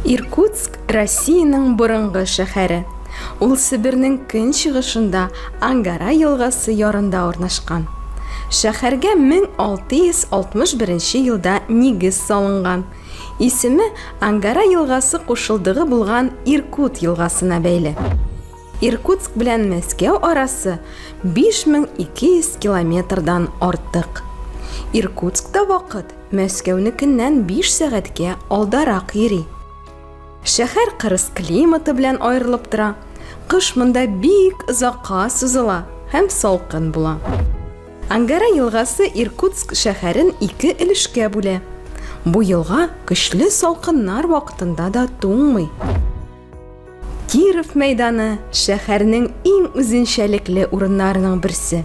Иркутск Россиянең борынгы шәһәре. Ул Себернең көнчыгышында Ангара елгасы ярында урнашкан. Шәһәргә 1661 елда нигез салынган Исеме Ангара елгасы кушылдыгы булган Иркут елгасына бәйле. Иркутск белән Мәскәү арасы 5200 километрдан артык. Иркутскта вакыт Мәскәүнекеннән биш сәгатькә алдарак йөри. Шәһәр кырыс климаты белән аерылып тора, кыш монда бик озакка сузыла һәм салкын була. Ангара елгасы Иркутск шәһәрен ике өлешкә бүлә. Бу елга көчле салкыннар вакытында да туңмый. Киров мәйданы шәһәрнең иң үзенчәлекле урыннарының берсе.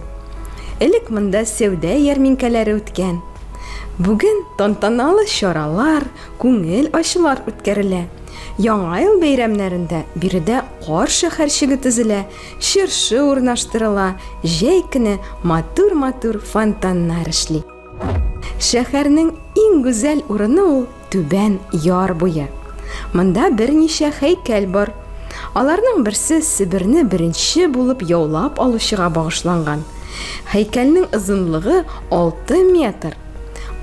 Элек монда сәүдә ярминкәләре үткән. Бүген тантаналы чаралар, күңел ачулар үткәрелә. Яңа ел бәйрәмнәрендә биредә кар шәһәрчеге төзелә, Чыршы урнаштырыла, җәй көне матур-матур фонтаннар эшли. Шәһәрнең иң гүзәл урыны ул Түбән Яр буе. Монда берничә һәйкәл бар. Аларның берсе Себерне беренче булып яулап алучыга багышланган. Һәйкәлнең озынлыгы 6 метр.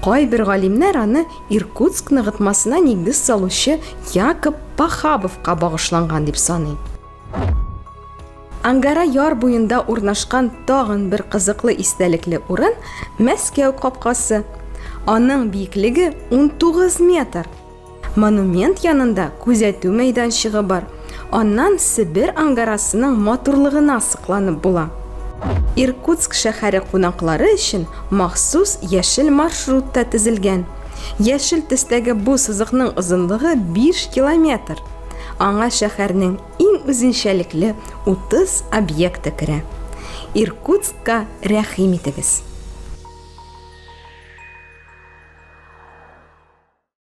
Кайбер галимнәр аны Иркутск ныгытмасына нигез салучы Якоб Пахабовка багышланган дип саный. Ангара яр буенда урнашкан тагын бер кызыклы истәлекле урын Мәскәү капкасы. Аның биеклеге 19 метр. Монумент янында күзәтү мәйданчыгы бар. Аннан Себер ангарасының матурлыгына сокланып була. Иркутск шәһәре кунаклары өчен махсус яшел маршрут та тезелгән. Яшел төстәге бу сызыкның озынлыгы 5 километр. Аңа шәһәрнең иң үзенчәлекле 30 объекты керә. Иркутскка рәхим итегез!